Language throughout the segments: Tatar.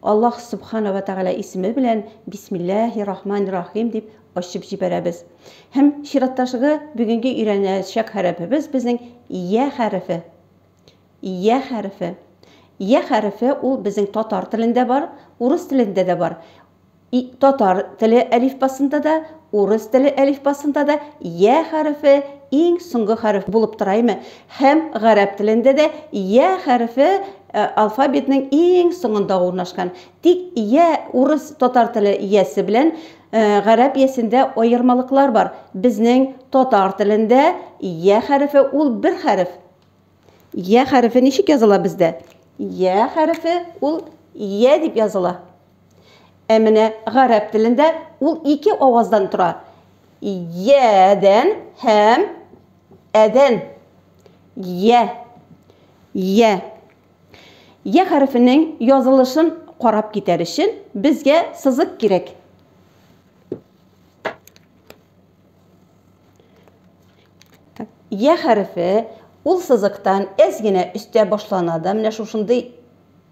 Аллаһ Сөбхана вә Тәгалә исеме белән Бисмилләһи рахмани рахим дип ачып җибәрәбез. Һәм чираттагы бүгенге өйрәнәчәк хәрефебез безнең Йә хәрефе. Йә хәрефе. Йә хәрефе ул безнең татар телендә бар, урыс телендә дә бар. И, татар теле әлифбасында да, урыс теле әлифбасында да Йә хәрефе иң соңгы хәреф булып тора име? Һәм гарәп телендә дә йә хәрефе алфавитның иң соңында урнашкан. Тик йә урыс, татар теле йәсе белән гарәп йәсендә аермалыклар бар. Безнең татар телендә йә хәрефе ул бер хәреф. Йә хәрефе ничек языла бездә? Йә хәрефе ул йә дип языла. Ә менә гарәп телендә ул ике аваздан тора. Йәдән һәм Әдән. Йә. Йә. Йә хәрефенең язылышын карап китәр өчен безгә сызык кирәк. Йә хәрефе ул сызыктан әз генә өстә башлана да, менә шушындый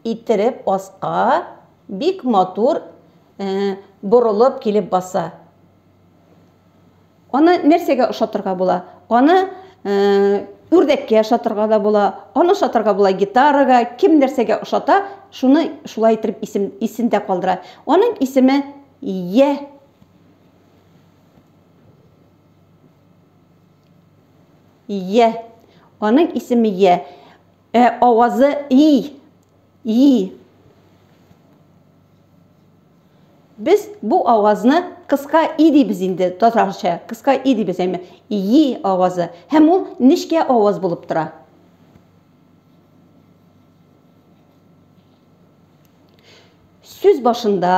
иттереп аска бик матур борылып килеп баса. Аны нәрсәгә ошатырга була? Аны үрдәккә ошатырга да була, аны ошатырга була гитарага, кем нәрсәгә ошата, шуны шулай итеп исем, исендә калдыра. Аның исеме Е. Е. Аның исеме Е. Ә авазы и, и. Без бу авазны кыска и дибез инде татарча. Кыска и дибез, әмма и авазы. Һәм ул нечкә аваз булып тора. Сүз башында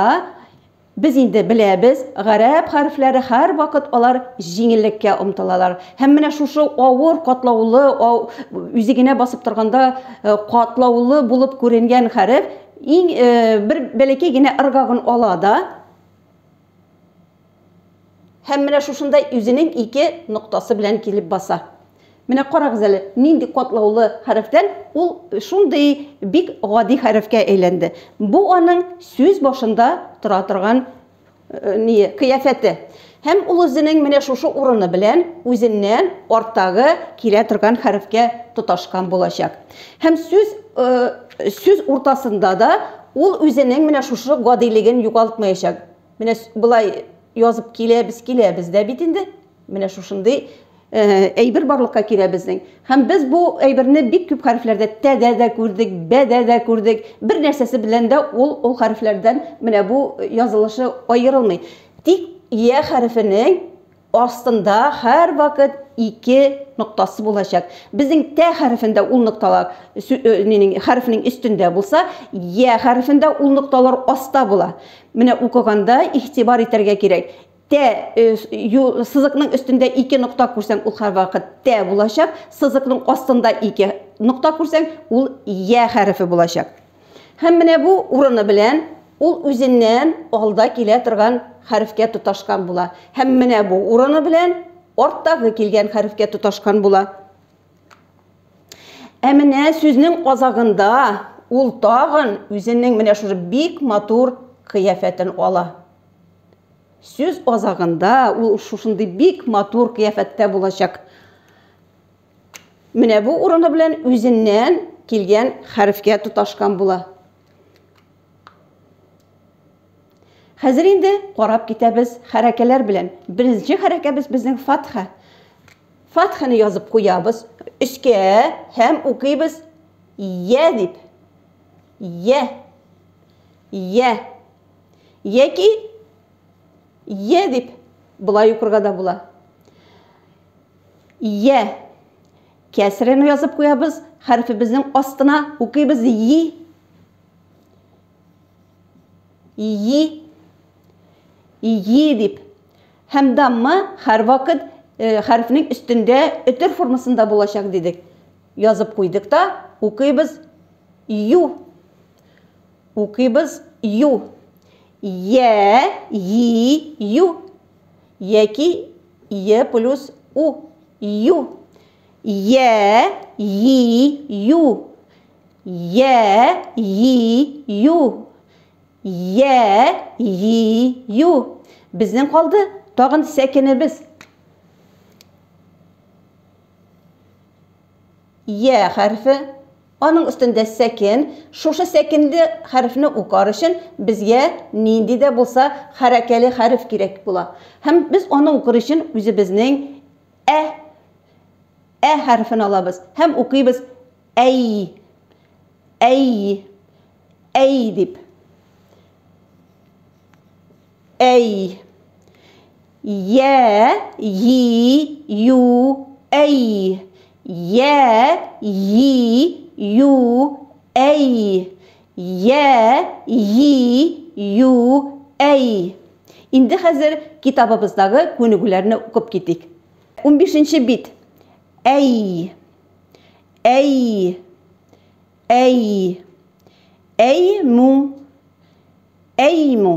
Без инде беләбез, гарәп хәрефләре һәрвакыт алар җиңеллеккә омтылалар. Һәм менә шушы авыр, катлаулы, үзе генә басып торганда катлаулы булып күренгән хәреф иң бер бәләкәй генә ыргагын ала да, Һәм менә шушында үзенең ике ноктасы белән килеп баса. Менә карагыз әле, нинди катлаулы хәрефтән ул шундый бик гади хәрефкә әйләнде. Бу аның сүз башында тора торган э, ние, кыяфәте. Һәм ул үзенең менә шушы урыны белән үзеннән арттагы килә торган хәрефкә тоташкан булачак. Һәм сүз э, сүз уртасында да ул үзенең менә шушы гадилеген югалтмаячак. Менә болай язып киләбез, киләбез дә бит инде. Менә шушындый э, әйбер барлыкка килә безнең. Һәм без бу әйберне бик күп хәрефләрдә тәдә дә күрдек, бәдә дә күрдек. Бер нәрсәсе белән дә ул ул хәрефләрдән менә бу язылышы аерылмый. Тик я хәрефенең астында һәрвакыт ике ноктасы булачак. Безнең тә хәрефендә ул нокталар минең хәрефнең өстендә булса, я хәрефендә ул нокталар аста була. Менә укыганда игътибар итәргә кирәк. Тә сызыкның өстендә ике нокта күрсәң, ул һәрвакыт тә булачак. Сызыкның астында ике нокта күрсәң, ул я хәрефе булачак. Һәм менә бу урыны белән ул үзеннән алда килә торган хәрефкә тоташкан була. Һәм менә бу урыны белән арттагы килгән хәрефкә тоташкан була. Ә менә сүзнең азагында ул тагын үзенең менә шушы бик матур кыяфәтен ала. Сүз азагында ул шушындый бик матур кыяфәттә булачак. Менә бу урыны белән үзеннән килгән хәрефкә тоташкан була. Хәзер инде карап китәбез хәрәкәләр белән. Беренче хәрәкәбез безнең фатха. Фатханы язып куябыз өскә һәм укыйбыз я дип. Я. Я. Яки я дип болай укырга да була. Йә. Кәсрәне язып куябыз, хәрефебезнең астына укыйбыз йи. Йи. Йи дип. Һәм дамма һәрвакыт э, хәрефнең өстендә өтер формасында булачак дидек. Язып куйдык та, укыйбыз ю. Укыйбыз ю. Йә, йи, ю. Яки е плюс у. Ю. Йә, йи, ю. Йә, йи, ю. Йә, йи, ю. Безнең калды тагын сәкенебез. Йә хәрефе. Аның өстендә сәкен. Шушы сәкенле хәрефне укар өчен безгә нинди дә булса хәрәкәле хәреф кирәк була. Һәм без аны укыр өчен үзебезнең ә ә хәрефен алабыз һәм укыйбыз әй, әй, әй дип. Әй. Йә, йи, ю, әй. Йә, йи, ю, әй. Йә, йи, ю, әй. Инде хәзер китабыбыздагы күнегүләрне укып китик. Унбишенче бит. Әй. Әй. Әй. Әй му. Әй му.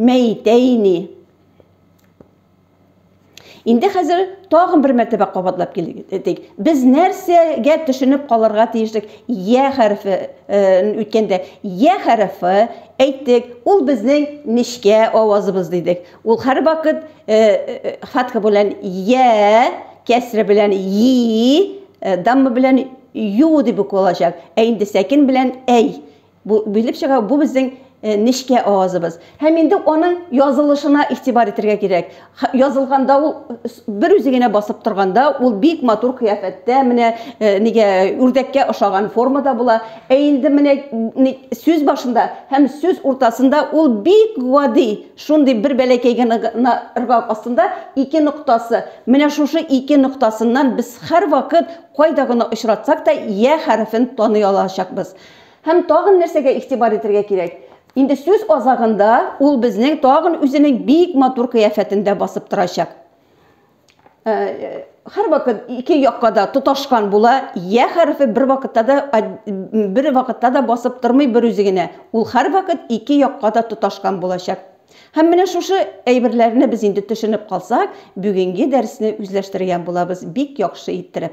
Мәйтәйни. Инде хәзер тагын бер мәртәбә кабатлап килдек. Без нәрсәгә төшенеп калырга тиешлек? Я хәрефе үткәндә я хәрефе әйттек, ул безнең нечкә авазыбыз дидек. Ул һәр вакыт фатха белән я, кәсре белән и, дамма белән ю дип укылачак. Ә инде сәкин белән әй. Бу билеп чыга, бу безнең э, нечкә авазыбыз. Һәм инде аның язылышына игътибар итәргә кирәк. Язылганда ул бер үзе генә басып торганда, ул бик матур кыяфәттә, менә э, нигә үрдәккә ошаган формада була. Ә инде менә сүз башында һәм сүз уртасында ул бик гади, шундый бер бәләкәй генә ыргак астында ике ноктасы. Менә шушы ике ноктасыннан без һәрвакыт кайда гына очратсак та я хәрефен таный алачакбыз. Һәм тагын нәрсәгә игътибар итәргә кирәк? Инде сүз азагында ул безнең тагын үзенең бик матур кыяфәтендә басып торачак. Һәрвакыт ике якка да тоташкан була, я хәрефе бер вакытта да бер вакытта да басып тормый бер үзе генә. Ул һәрвакыт ике якка да тоташкан булачак. Һәм менә шушы әйберләрне без инде төшенеп калсак, бүгенге дәресне үзләштерегән булабыз бик яхшы иттереп.